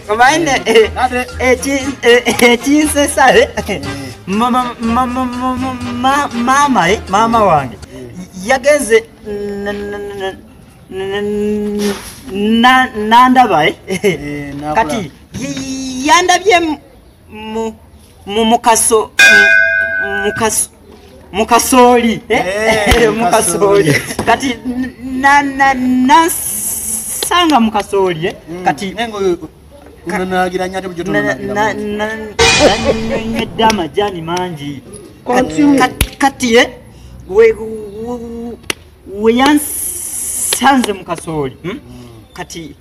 omanyi ekinsesa maama maama wange yagenze nandaba kati yandabye mu mukaso mukaso mukasooli eh? Eh, mukasooli kati nasanga mukasooli eh? mm. kati nanywedde amajani mangi kati weyansanze mukasooli hmm? mm. kati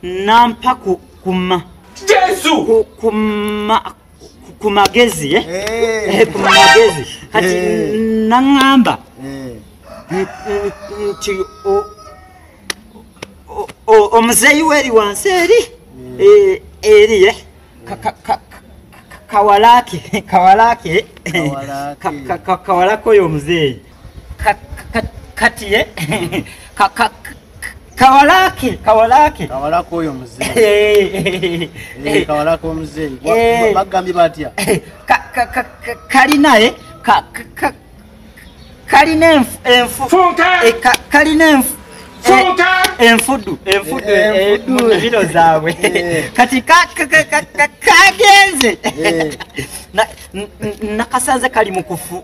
nampa kuma jesu kuma ku magezi eh? Eh, ku magezi kati naŋŋamba nti omuzeeyi we eri wansi eri eri eh, kawalake kawalake kawalake oyo omuzeeyi kati ye kawalaki kawalaki kawalaki oyo muzeeyi kawalaki omuzeeyi bagambye batya kali naye kalina kalina enfudu enfudu mubiro zaabwe kati kagenze nakasanze kali mukufu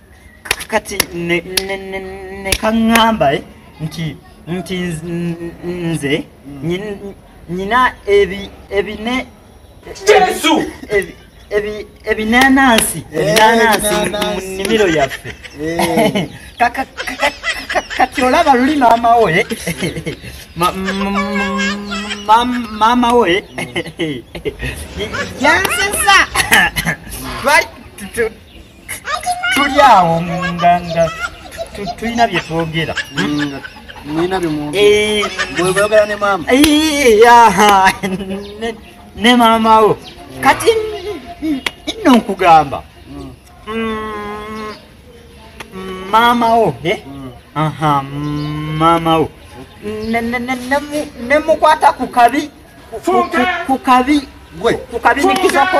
kati nekaŋŋamba eh, nti nti nze nyina ebine jesu ebinanansi ebinanansi eh, mu nnimiro yaffe eh. kati olaba luli maama we maama we yansesa tuli awo nga nga tulina bye twogera nina bimwogera ne maama ne maama wo kati nno nkugamba maama wo aha maama wo nemukwata ku kabi ku kabi gwe ku kabi nikizako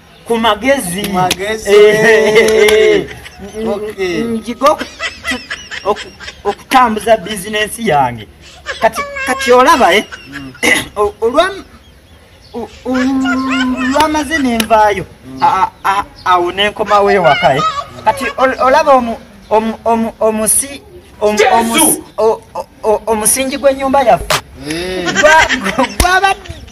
ku magezi njiga okutambuza bizinensi yange kati olaba eh? mm. olwamaze nenvaayo mm. awo nenkomawo ewaka eh? kati olaba omusi omusingi gw'ennyumba yaffe eh. gwabadde